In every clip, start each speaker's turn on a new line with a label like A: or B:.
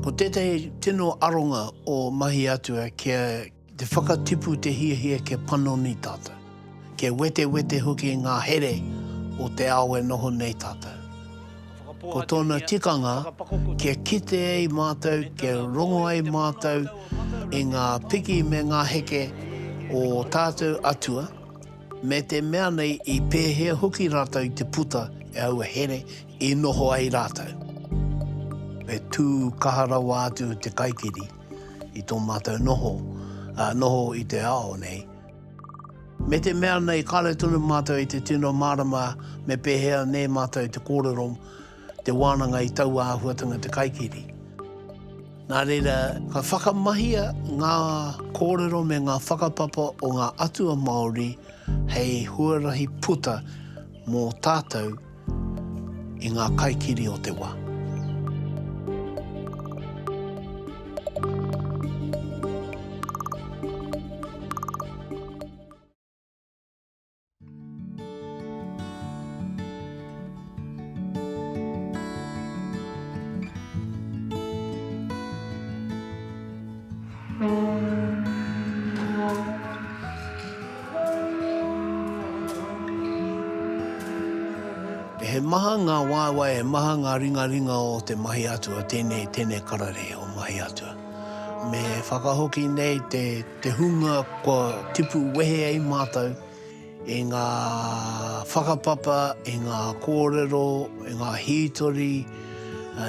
A: Ko tētahi tino aronga o Mahi Atua kia te whakatipu te hiahia kia panoni tātou, kia wetewete hoki ngā here o te ao e noho nei tātou. Ko tōna tikanga kia kite ai mātou, kia rongo ai mātou i ngā piki me ngā heke o tātou Atua, me te mea nei i pēhea hoki rātou i te puta e aua here i noho ai rātou. Me tū kaha rawa atu te kaikiri i tō mātou noho, ā, noho i te ao nei. Me te mea nei kāre tonu mātou i te tino mārama me pēhea nei mātou te kōrero Te wānanga i taua āhuatanga te kaikiri. Nā reira, ka whakamahia ngā kōrero me ngā whakapapa o ngā atua Māori hei huarahi puta mō tātou i ngā kaikiri o te wā. He maha ngā waewae, he maha ngā ringaringa o te mahi atua, tēnei, tēnei kara rei o mahi atua. Me whakahoki nei te te hunga kua tipu wehe ai mātou i ngā whakapapa, i ngā kōrero, i ngā hītori,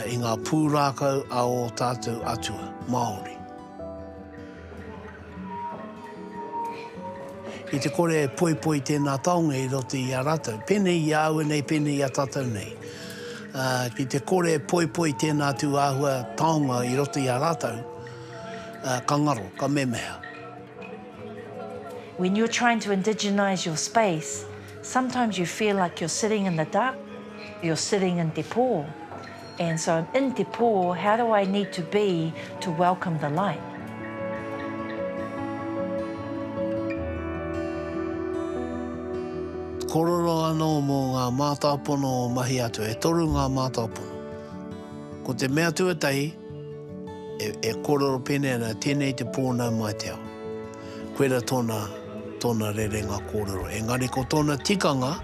A: i ngā pūrākau a ō tātou atua Māori. I te kore e poipoi tēnā taonga i roto i a rātou, pēnei i a aua nei, pēnei i a tātou nei, ki te kore e poipoi tēnā tū āhua taonga i roto i a rātou, ka ngaro, ka memeha.
B: When you're trying to indigenise your space, sometimes you feel like you're sitting in the dark, you're sitting in te pō. And so I'm in te pō, how do I need to be to welcome the light?
A: Korero anō mō ngā mātāpono o Mahiatu, e toru ngā mātāpono. Ko te mea tuatahi, E, e kōrero pēnei ana, tēnei te pō nā Ngāi Te Ao. Koira tōna, tōna rerenga kōrero. Engari ko tōna tikanga,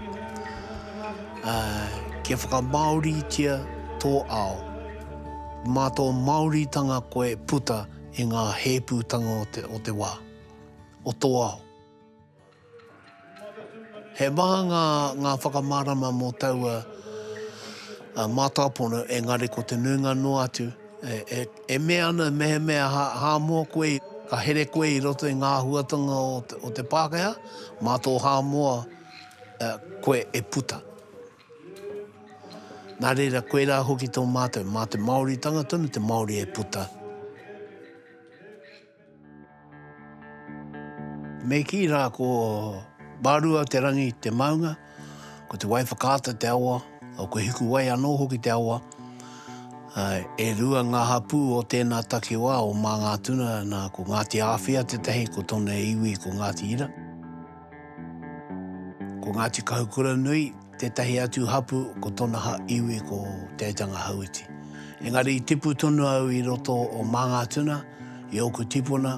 A: uh, kia whakamāoritia tō ao, mā tō Māoritanga koe puta i ngā hēpūtanga o te, o te wā, o tō ao. He maha ngā, ngā whakamārama mō taua mātāpono, engari ko te nuinga noa atu, e, e mea ana mehemea hā, hā moa koe, ka here koe i roto i ngā āhuatanga o te, o te Pākehā, mā tō hā moa, e, koe e puta. Nā reira, koirā hoki tō mātou, mā te Māoritanga tonu te Māori e puta. Me kī rā ko Mārua te rangi te maunga, ko Te Waiwhakaata te awa, ko Hikuwai anō hoki te awa. E rua ngā hapū o tēnā takiwā o Māngātuna, nā, ko Ngāti Āwhia tētahi, ko tōna iwi ko Ngāti Ira. Ko Ngāti Kahukuranui. Tētahi atu hapū ko tona ha iwi ko Te Aitanga Hauiti. Engari i tipu tonu au i roto o Māngātuna, i ōku tipuna,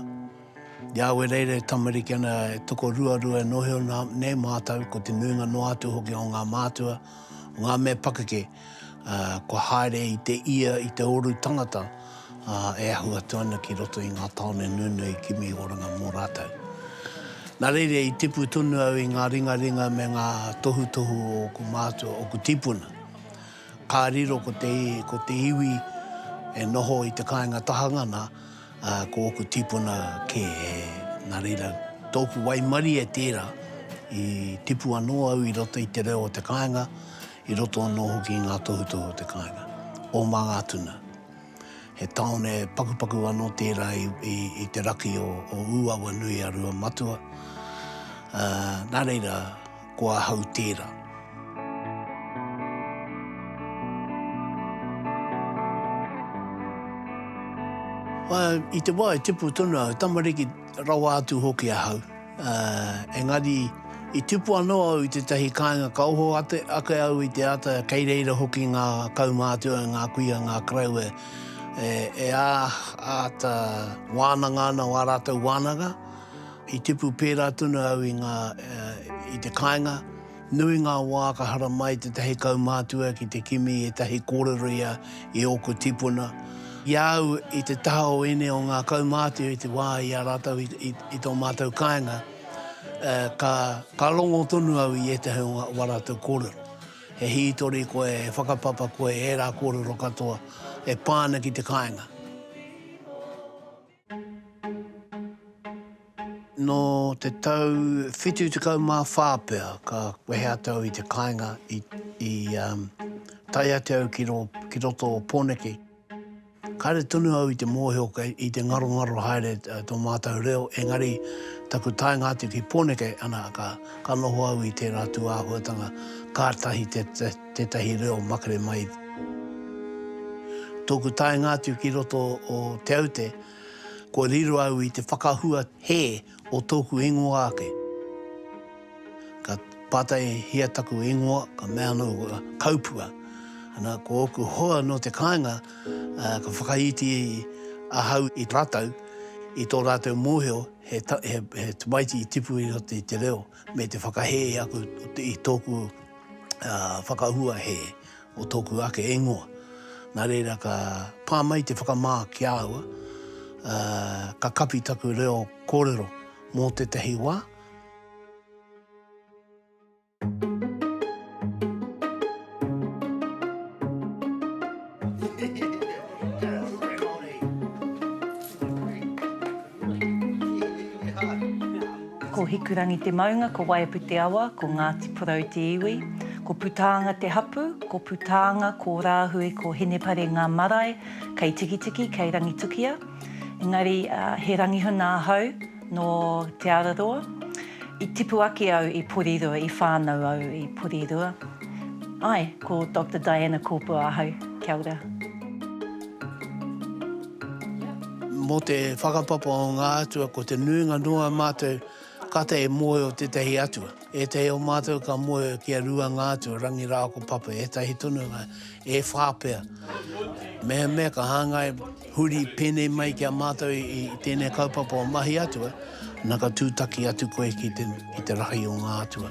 A: i a Wereira e tamariki ana e toko ruarua e nohi ona nei mātou ko te nuinga noa atu hoki o ngā mātua, o ngā mea pakeke, kua haere i te ia, i te oru tangata. ā, e ahu atu ana ki roto i ngā tāone nunui kimi oranga mō rātou. Nā reira i tipu tonu au i ngā ringaringa me ngā tohutohu o ōku mātua, ōku tīpuna. Ka riro ko te, ko te iwi e noho i te kāinga tahangana, ā, ko ōku tīpuna kē. Nā reira, tōku waimarie tērā, i tipu anō au i roto i te reo o te kāinga, I roto anō hoki i ngā tohutohu o te kāinga, o Māngātuna. He tāone pakupaku anō tērā i te raki o Ūawa-nui-a-Rua matua, ā, nā reira, ko ahau tērā. I te wā i tipu tonu au, tamariki rawa atu hoki ahau, Ā, engari, i tipu anō au i tētahi kāinga ka oho ake au i te ata kei reira hoki ngā kaumātua e ngā kuia, ngā karau e, e āta wānanga ana o ā rātou wānanga. I tipu pērā tonu au i ngā, i te kāinga. Nui ngā wā ka haramai tētahi kaumātua ki te kimi i ētahi kōrero ia i ōku tipuna. I a au i te taha o ēnei o ngā kaumātua i te wā i a rātou i tō mātou kāinga, ka rongo tonu au i ētahi o ā rātou kōrero. He hītori koe, he whakapapa koe i ērā kōrero katoa e pā ana ki te kāinga. Nō te tau 74 pea ka wehe atu au i te kāinga i tae atu au ki roto o Pōneke. Kāre tonu au i te mōhio i te ngarongaro haere tō mātou reo, engari taku taenga atu ki Pōneke, ana, ka noho au i tērā tūāhuatanga kātahi te Tētahi reo makere mai. Tōku taenga atu ki roto o Te Aute, kua riro au i te whakahua hē o tōku ingoa ake. Ka pātaihia taku ingoa, ka mea anō kaupua. Ana, ko ōku hoa nō te kāinga, ka whakaiti ahau i rātou, i tō rātou mōhio he tamaiti i tipu i roto i te reo, me te whakahē aku i tōku. whakahua hē o tōku ake ingoa. Nā reira ka pā mai te whakamā ki a au, ka kapi taku reo kōrero mō tētahi wā.
B: Ko Hikurangi te maunga, ko Waiapu te awa, ko Ngāti Porou te iwi. Ko Putaanga te hapū, ko Putaanga, ko Rāhui, ko Hinepare ngā marae kei Tikitiki, kei Rangitukia. Engari, he rangihuna ahau nō Te Araroa. I tipu ake au i Porirua, i whānau au i Porirua. Āe, ko Doctor Diana Kōpua ahau. Kia ora.
A: Mō te whakapapa o ngā atua, ko te nuinga noa o mātou kata e moe o tētahi atua. Ētahi o mātou ka moe ki a rua ngā atua, Rangi rā ko Papa, ētahi tonu ngā, e whā pea. Mehemea ka hāngai huri pēnei mai ki a mātou i tēnei kaupapa o mahi atua, na ka tūtaki atu koe ki te rahi o ngā atua.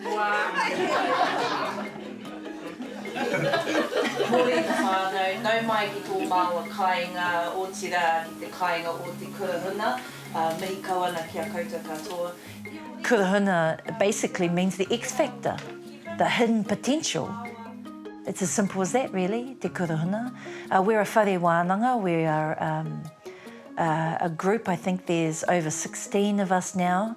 C: Kua
B: kore te whānau nau mai ki tō māua kāinga, otirā, ki te kāinga o te kurahuna. Mihi kau ana ki a koutou katoa. Kurahuna basically means the X factor, the hidden potential. It's as simple as that really, te kurahuna. We're a whare wānanga, we are a group, I think there's over 16 of us now.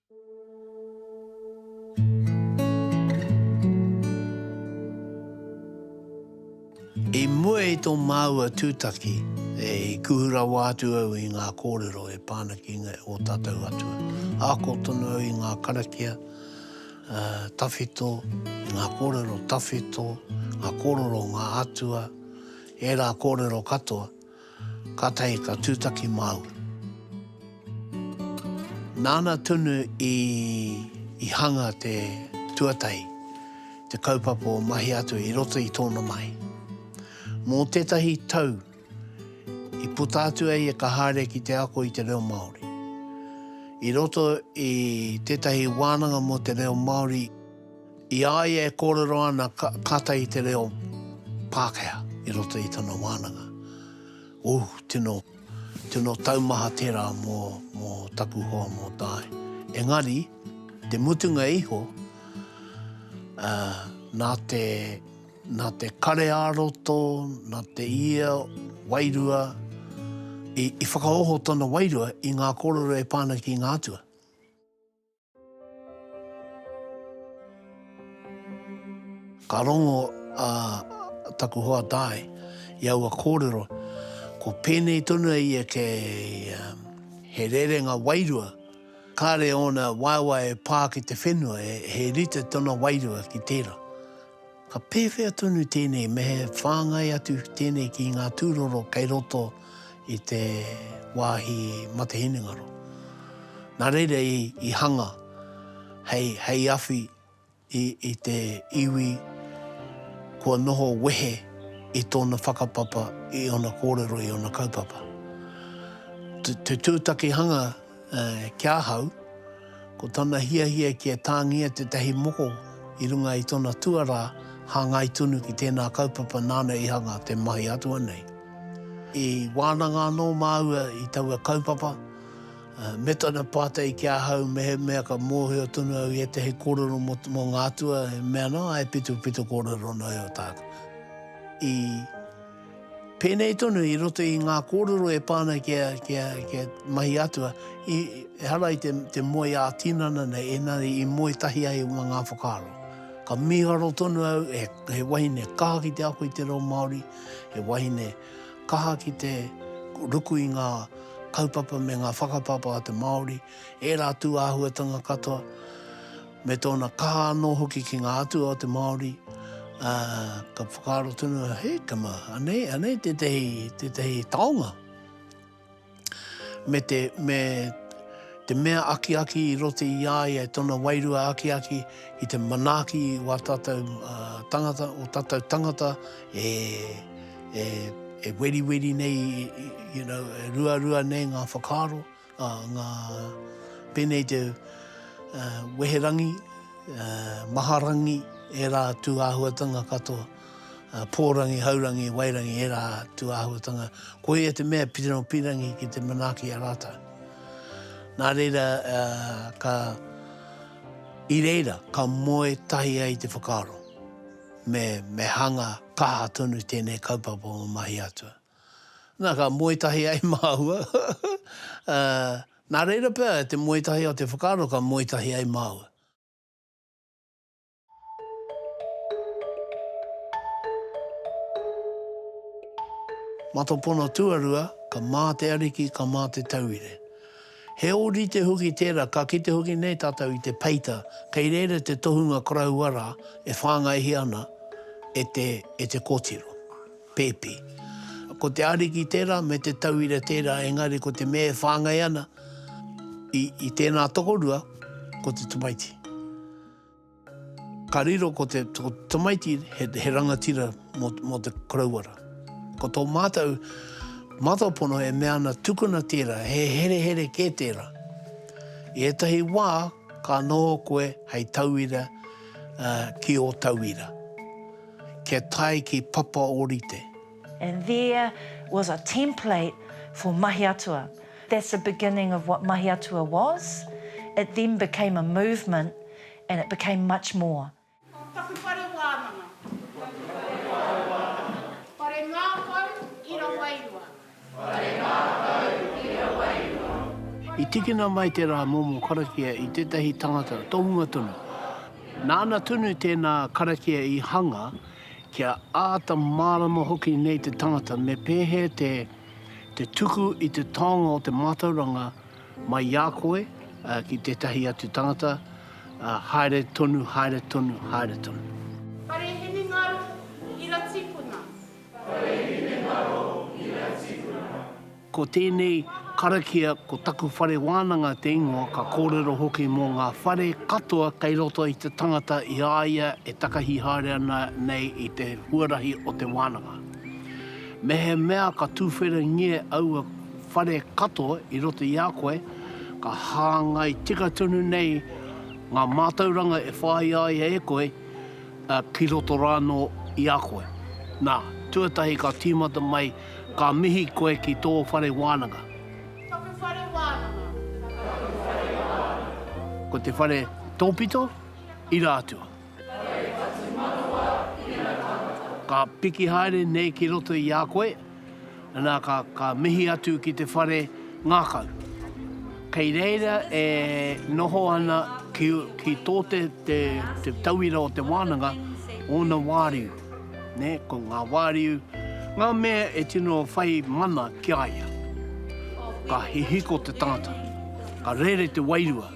A: I mua i tō māua tūtaki, e kuhu rawa atu au i ngā kōrero e pā ana ki ō tātou atua. Ako tonu au i ngā karakia tawhito, i ngā kōrero tawhito, ngā kōrero o ngā atua, ērā kōrero katoa. Ka tahi ka tutaki māu. Nāna tonu i i hanga te tuatahi, te kaupapa o mahi atu i roto i tōna mahi. Mō tētahi tau, i puta atu a ia ka haere ki te ako i te reo Māori. I roto i tētahi wānanga mō te reo Māori, I a ia e kōrero ana kātahi i te reo Pākehā i roto i tana wānanga. Ūh, tino, tino taumaha tērā mō, mō taku hoa mō Dai. Engari, te mutunga iho, uh, nā te, nā te kare ā-roto, nā te ia wairua, i, i whakaoho tana wairua i ngā kōrero e pā ana ki ngā atua. Ka rongo a taku hoa Di i aua kōrero, ko pēnei tonu a ia kei he rerenga wairua, kāre ōna waewae e pā ki te whenua, he rite tōna wairua ki tērā. Ka pēwhea tonu tēnei me he whāngai atu tēnei ki ngā tūroro kei roto i te wāhi mate hinengaro. Nā reira i hanga hei awhi i te iwi kua noho wehe i tōna whakapapa, i ōna kōrero, i ōna kaupapa. Te tūtakihanga Ki ahau, ko tana hiahia kia tāngia tētahi moko i runga i tona tuarā hāngai tonu ki tēnā kaupapa nāna i hanga te mahi atua nei. I wānanga anō māua i taua kaupapa, me tana pātai ki ahau mehemea ka mōhio tonu au i ētahi kōrero mō ngā atua e mea ana, āe, pito, pito kōrero noa iho tāku. I. Pēnei tonu i roto i ngā kōrero e pā ana ki a, ki a, ki a Mahi Atua, i, ehara i te, te moe ā-tinana nei, engari i moe tahi ai mā ngā whakaaro. Ka mīharo tonu au, he, he wahine kaha ki te ako i te reo Māori, he wahine kaha ki te ruku i ngā kaupapa me ngā whakapapa a te Māori, ērā tūāhuatanga katoa. me tōna kaha anō hoki ki ngā atua o te Māori, ā, ka whakaaro tonu, he kama, anei, anei tētahi, tētahi taonga me te, me te mea akiaki i roto i a ia, tōna wairua akiaki i te manaaki i wā tātou tangata, o tātou tangata e, e, e weriweri nei, you know, e ruarua nei ngā whakaaro. A nga pene te weherangi, maharangi, era tu ahuatanga katoa, porangi, haurangi, wairangi, era tu ahuatanga, ko ia te mea pire no pirangi ki te manaki a ratou. Na reira ka i reira ka moe tahi ai te whakaaro me hanga kaha tonu tenei kaupapa o Mahi Atua. Na, ka moe tahi ai māua. Ā, nā reira pea, te moe tahi o te whakaaro ka moe tahi ai māua. Matopono tuarua, ka mā te Ariki, ka mā te tauire. He ōrite hoki tērā, ka kite hoki nei tātou i te peita, kei reira te tohunga koroua rā e whāngaihia ana e te, e te kōtiro. Pēpi. Ko te Ariki tērā me te tauira tērā engari ko te mea e whāngai ana i, i tēnā tokorua, ko te tamaiti. Ka riro ko te, ko te tamaiti he, he rangatira mō, mō te korauara. Ko tō mātou matapono e mea ana tukuna tērā, he herehere kē tērā. I ētahi wā ka noho koe hei tauira uh, ki ō tauira. kia tae ki Papa Orite. And there
B: was a template for Mahi Atua. That's the beginning of what Mahi Atua was. It then became a movement and it became much more. Taku whare wānanga.
C: Taku whare wānanga. Whare ngākau i Rawairua. Whare mātou
A: i a wairua. I tikina mai te rā momo karakia i tētahi tangata tohunga tonu. Nāna tonu tēnā karakia i hanga kia āta mārama hoki nei te tangata me pēhea te te tuku i te taonga o te mātauranga mai i a koe ki tētahi atu tangata, haere tonu, haere tonu, haere
C: tonu. Whare hinengaro, ira tipuna.
A: Ko tēnei karakia ko taku whare wānanga te ingoa ka kōrero hoki mō ngā whare katoa kei roto i te tangata i a ia e takahi haere ana nei i te huarahi o te wānanga. Mehemea ka tūwhiringia aua whare katoa i roto i a koe, ka hāngai tika tonu nei ngā mātauranga e whāia ai e koe, ki roto rā anō i a koe. Nā, tuatahi ka tīmata mai, ka mihi koe ki tō whare wānanga. Taku whare
C: wānanga,
A: taku
C: whare wānanga.
A: Ko
C: te whare
A: tōpito, ira atua. Whare whatumanawa, ira tāmata. Ka piki haere nei ki roto i a koe. Nā, ka, ka mihi atu ki te whare ngākau. Kei reira e noho ana ki, ki tō te, te, te tauira o te wānanga, ōna wāriu, ne, ko ngā wāriu, ngā mea e tino whai mana ki a ia. Ka hihiko te tangata, ka rere te wairua.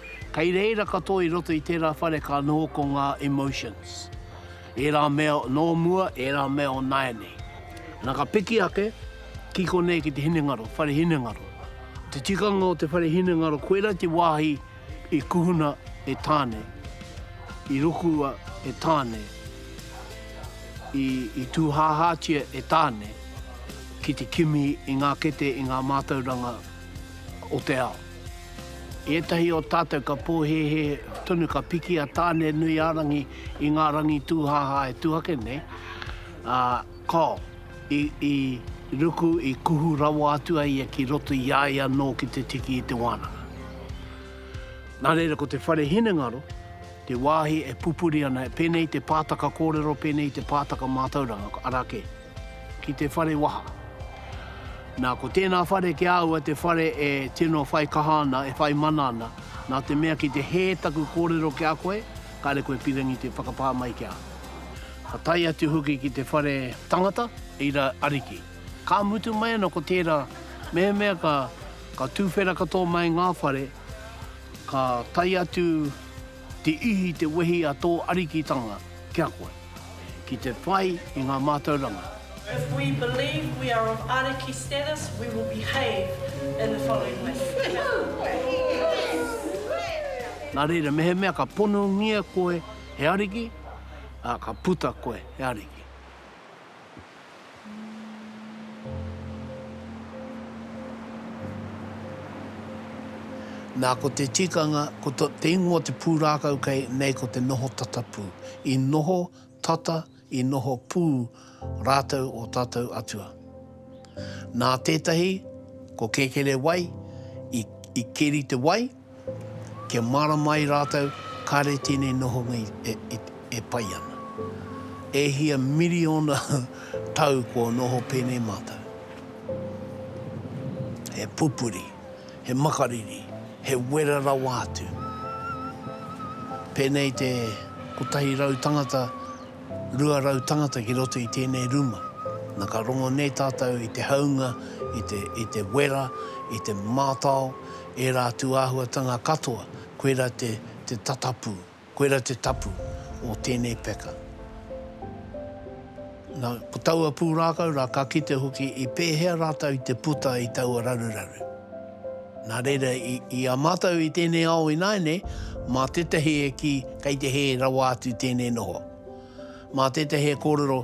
A: Kei reira katoa i roto i tērā whare ka noho ko ngā emotions. Ērā mea nō mua, ērā mea o nāianei. Nā ka piki ake, ki konei ki te hinengaro, whare hinengaro. Te tikanga o te whare hinengaro, koirā te wāhi i kuhuna e Tāne, i rokua e Tāne, i, i tūhāhātia e Tāne ki te kimi i ngā kete, i ngā mātauranga o te ao. I ētahi o tātou ka pōhēhē tonu ka piki a Tāne-nui-ā-rangi i ngā rangi tūhāhā e tū ake nei, ā, kāo, i, i ruku, i kuhu rawa atu a ia ki roto i a ia anō ki te tiki i te wānanga. Nā reira ko te whare hinengaro te wāhi e pupuri ana, pēnei i te pātaka kōrero, pēnei i te pātaka mātauranga, arā kē. ki te whare waha. Nā, ko tēnā whare ki a aua te whare e tino whai kaha ana, e whai mana ana, nā te mea ki te hē taku kōrero ki a koe, kāre koe pirangi te whakapā mai ki a au. Ka tae atu hoki ki te whare tangata, reira ariki. Ka mutu mai ana ko tērā, mehemea ka, ka tūwhera katoa mai ngā whare, ka tae atu Tiihi te wehi a tō Arikitanga ki a koe, ki te whai i ngā mātauranga. If we
D: believe we are of Ariki status, we will behave in the following way.
A: Nā reira, mehemea ka ponongia koe he ariki, ā, ka puta koe he ariki. Nā, ko te tikanga, ko te ingoa te pūrākau kei, nei ko te noho tata pū. I noho tata, i noho pū rātou ō tātou atua. Nā tētahi, ko Kēkerewai, i keri te wai, Kia mārama ai rātou kāre tēnei nohonga e pai ana. E hia miriona tau kua noho pēnei mātou. He pupuri, he makariri, he wera rawa atu. Pēnei te kotahi rau tangata, rua rau tangata ki roto i tēnei ruma. Na ka rongo nei tātou i te haunga, i te wera, i te mātao, ērā atu āhuatanga katoa, koirā te te tatapū, koirā te tapu o tēnei peka. Nā, ko taua pūrākau rā ka kite hoki i pēhea rātou i te puta i taua raruraru. Nā reira, i, i a mātou i tēnei ao ināianei, mā tētahi e kī kei te hē rawa atu tēnei noho. Mā tētahi e kōrero,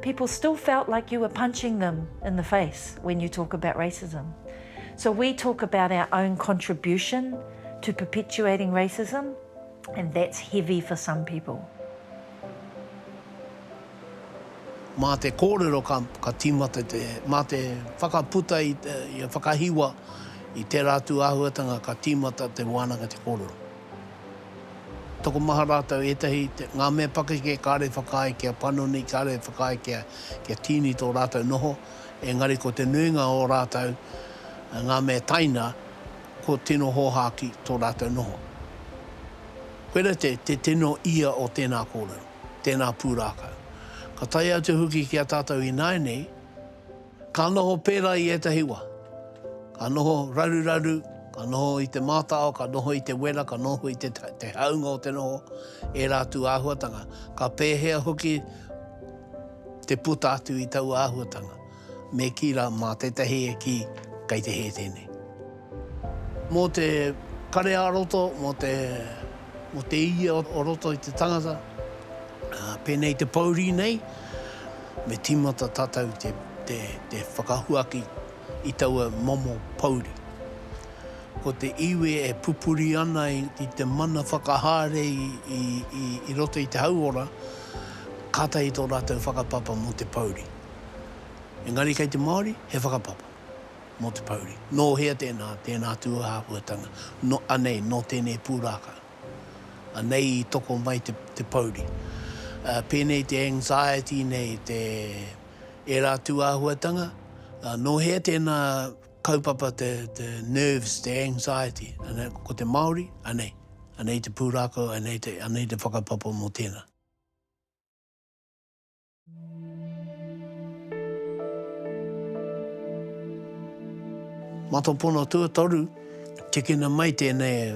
B: people still felt like you were punching them in the face when you talk about racism. So we talk about our own contribution to perpetuating racism and that's heavy for some people.
A: Mā te kōrero ka, ka tīmata te, mā te whakaputa i, te, i a whakahiwa i tērā atu āhuatanga ka tīmata te wānanga te kōrero. Tokomaha rātou ētahi, ngā mea pakeke kāore whakaae kia panoni, kāore whakaae kia tīni tō rātou noho, engari ko te nuinga o rātou, ngā mea taina, kua tino hōhāki tō rātou noho. Koirā te tino ia o tēnā kōrero, tēnā pūrākau. Ka tae atu hoki ki a tātou ināianei, Ka noho pērā i ētahi wā. Ka noho raruraru, ka noho i te mātao, ka noho i te wera, ka noho i te te hāunga o te noho, ērā atu āhuatanga. Ka pēhea hoki te puta atu i taua āhuatanga? Me kī rā, mā tētahi e kī, kei te hē tēnei. Mō te kare-ā-roto, mō te, mō te ia o roto i te tangata, ā, pēnei i te pōuri nei, me tīmata tātou te, te, te whakahuaki i taua momo pōuri. Ko te iwi e pupuri ana i te mana whakahaere i, i, i, i roto i te hauora, kātahi tō rātou whakapapa mō te pōuri. Engari kei te Māori, he whakapapa. mō te pouri. Nō hea tēnā, tēnā tūāhuatanga, nō, anei, nō tēnei pūrākau. Anei i toko mai te, te pouri. Ā, pēnei te anxiety nei, te, ērā tūāhuatanga, ā, nō hea tēnā kaupapa te, te nerves, te anxiety, anei, ko te Māori, anei, anei te pūrākau, anei te, anei te whakapapa mō tēnā. Matapono tuatoru, tikina mai tēnei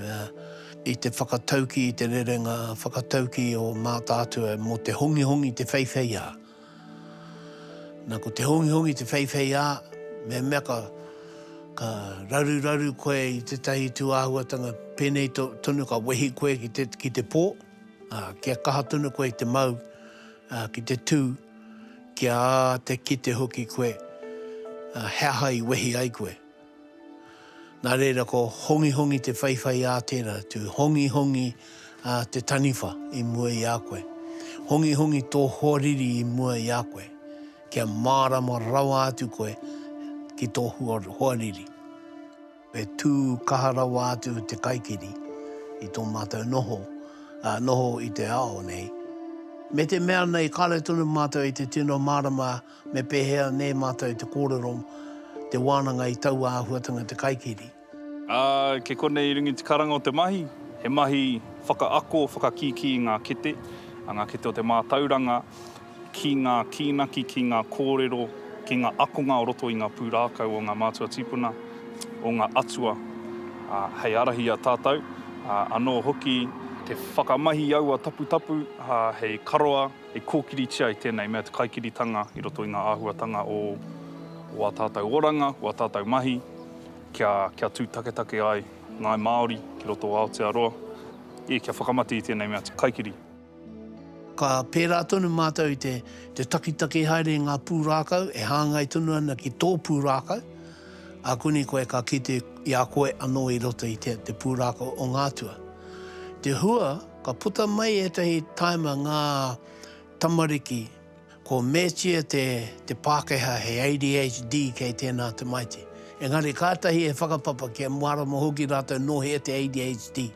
A: i te whakatauki i te rerenga whakatauki o Mātaatua mō te hongihongi te wheiwheiā. Na, ko te hongihongi te wheiwheiā, mehemea ka, ka raruraru koe i tētahi tūāhuatanga pēnei tonu ka wehi koe ki te, ki te pō, Ā, kia kaha tonu koe i te mau, ā, ki te tū, kia te kite hoki koe, ā, he aha i wehi ai koe. Nā reira, ko hongihongi te whaiwhai ā tērā, to hongihongi ā te taniwha i mua i a koe. Hongihongi tō hoariri i mua i a koe, kia mārama rawa atu koe ki tō hoariri. E tū kaha rawa atu te kaikiri i tō mātou noho, noho i te ao nei. Me te mea nei, kāre tonu mātou i te tino mārama me pēhea nē mātou te kōrero te wānanga i taua āhuatanga te kaikiri. Ā, kei
E: konei i runga i te karanga o te mahi, he mahi whakaako, whakakīkī i ngā kete, ngā kete o te mātauranga, ki ngā kīnaki, ki ngā kōrero, ki ngā akonga o roto i ngā pūrākau o ngā mātua tīpuna, o ngā atua, ā, hei ārahi i a tātou, ā, anō hoki te whakamahi i aua taputapu, ā, hei karoa, hei kōkiritia i tēnei mea te kaikiritanga i roto i ngā āhuatanga o ā tātou oranga, o ā tātou mahi, kia, kia tū taketake ai ngāi Māori ki roto o Aotearoa, ē, kia whakamate i tēnei mea te kaikiri. Ka
A: pērā tonu mātou i te takitaki haere i ngā pūrākau e hāngai tonu ana ki tō pūrākau. Akuni koe ka kite i a koe anō i roto i te pūrākau o ngā atua. Te hua, ka puta mai ētahi taima ngā tamariki, Ko Metie te te Pākehā he ADHD kei tēnā tamaiti. Engari kātahi e whakapapa kia mārama hoki rātou nō hea te ADHD.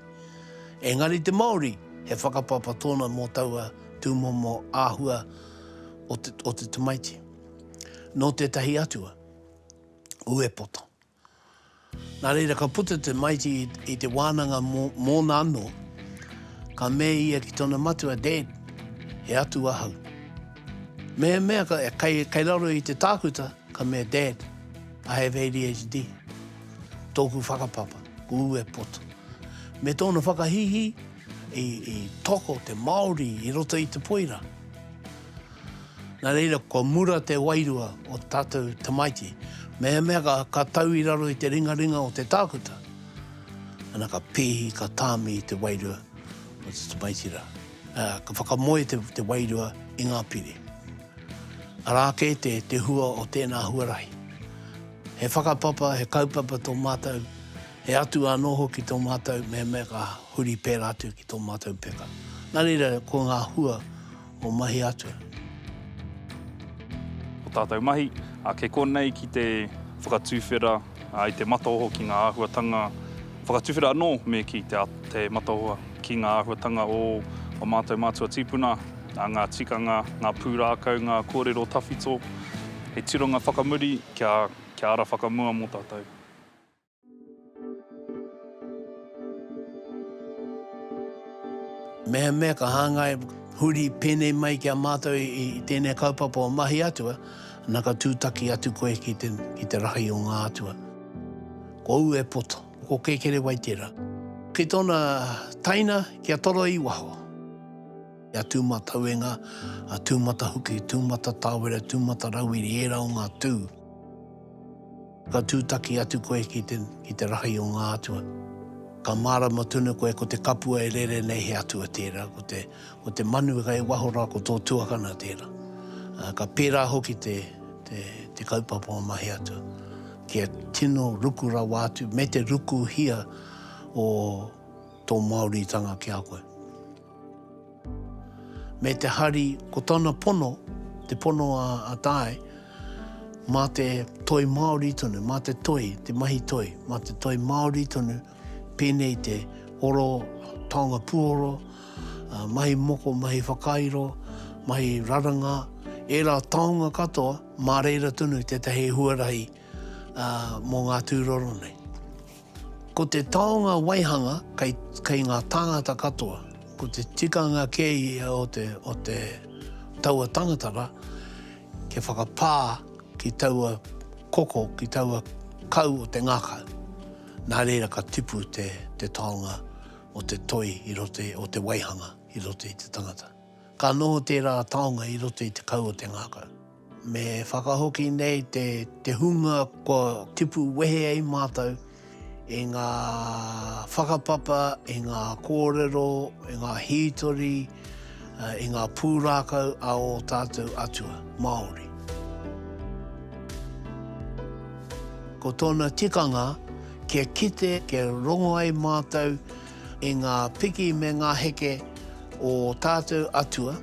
A: Engari te Māori he whakapapa tōna mō taua tūmomo āhua o te o te tamaiti. Nō tētahi atua, uepoto. Nā reira ka puta te Mighty i te wānanga mōna anō, ka mea ia ki tōna matua, Dad, he atu ahau. Mehemea kei, kei raro i te tākuta, ka mea, Dad, I have ADHD. Tōku whakapapa, ko Uwe Poto. Me tōna whakahīhī, i, i toko te Māori i roto i te poira. Nā reira, kua mura te wairua o te tātou tamaiti. Mehemea ka, ka tau i raro i te ringaringa o te tākuta, ana ka pēhi, ka tāmi te wairua o te tamaiti rā. Uh, ka whakamoe te, te wairua i ngā pire. Arā kē te, te hua o tēnā huarahi. He whakapapa, he kaupapa tō mātou, he atu anō hoki tō mātou, mehemea ka huri pērā atu ki tō mātou peka. Nā reira, ko ngā hua, o mahi atu.
E: O tātou mahi, kei konei ki te whakatuwhera i te mataoho ki ngā āhuatanga whakatuwhera anō me ki te mataoho ki ngā āhuatanga o o mātou mātua tīpuna, ngā tikanga, ngā pūrākau, ngā kōrero tawhito, he tironga whakamuri kia ara whakamua mō tātou.
A: Mehemea ka hāngai huri pēnei mai ki a mātou i tēnei kaupapa o Mahi Atua, na ka tūtaki atu koe ki te, ki te rahi o ngā atua. Ko au e poto, ko Kēkerewai tērā. Ki tōna taina, ki a Toro i waho. Ki a Tūmatauenga, a Tūmatahuki, Tūmatatawera, Tūmatarauiri, ērā o ngā tū. Ka tūtaki atu koe ki te, ki te rahi o ngā atua. Ka mārama tonu koe ko te kapua e rere nei he atua tērā, ko te, ko te manu kei waho rā ko tō tuakana tērā. Ā, ka pērā hoki te, te, te kaupapa o Mahe Atua. Kia tino ruku rawa atu, me te rukuhia o tō Māoritanga ki a koe. Me te hari, ko tana pono, te pono a Tae, mā te toi Māori tonu, mā te toi, te mahi toi, mā te toi Māori tonu, pēnei i te oro, taonga puoro, mahi moko, mahi whakairo, mahi raranga, ērā taonga katoa, mā reira tonu tētahi huarahi mō ngā tūroro nei. Ko te taonga waihanga kei, kei ngā tāngata katoa. Ko te tikanga kē ia o te, o te taua tangata rā, kia whakapā ki taua koko, ki taua kau o te ngākau. Nā reira ka tipu te, te taonga o te toi i roto, o te waihanga i roto i te tangata. Ka noho tērā taonga i roto i te kau o te ngākau. Me whakahoki nei te hunga kua tipu wehe ai mātou i ngā whakapapa, i ngā kōrero, i ngā hītori, i ngā pūrākau a ō tātou atua Māori. Ko tōna tikanga, kia kite, kia rongo ai mātou i ngā piki me ngā heke o ō tātou atua,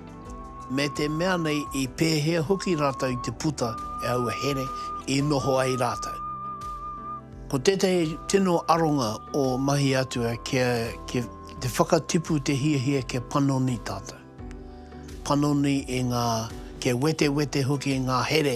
A: me te mea nei i pēhea hoki rātou i te puta e aua here i noho ai rātou. Ko tētahi tino aronga o mahi atua kia te whakatipu te hiahia kia panoni tātou, panoni i ngā, kia wetewete hoki ngā here,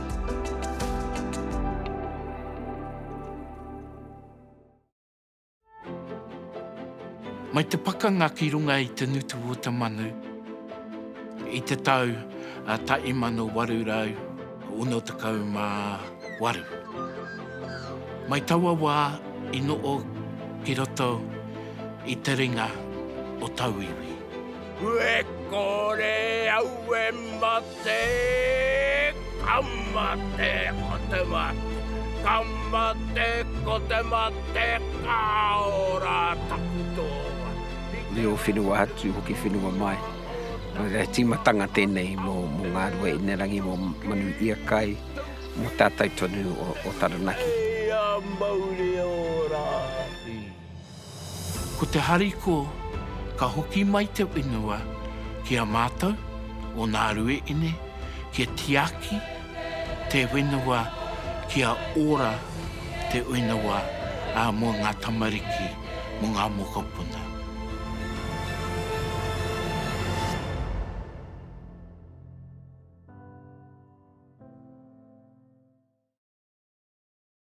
F: Mai te pakanga ki runga i te ngutu o te manu i te tau 1868. Mai taua wā i noho ki roto i te ringa o tauiwi. Kue kore au e mate. Te Kamate o te Mate, Kamate ko te Mate ka ora taku toa. Reo
G: whenua atu hoki whenua mai. He tīmatanga tēnei mō ngā rua inerangi, mō Manu Iakai, mō tātou tonu o Taranaki. Hei a mauri ora!
F: Ko te harikoa, ka hoki mai te whenua ki a mātou, o nā Rueene, kia tiaki te whenua, kia ora te whenua mō ngā tamariki, mō ngā mokopuna.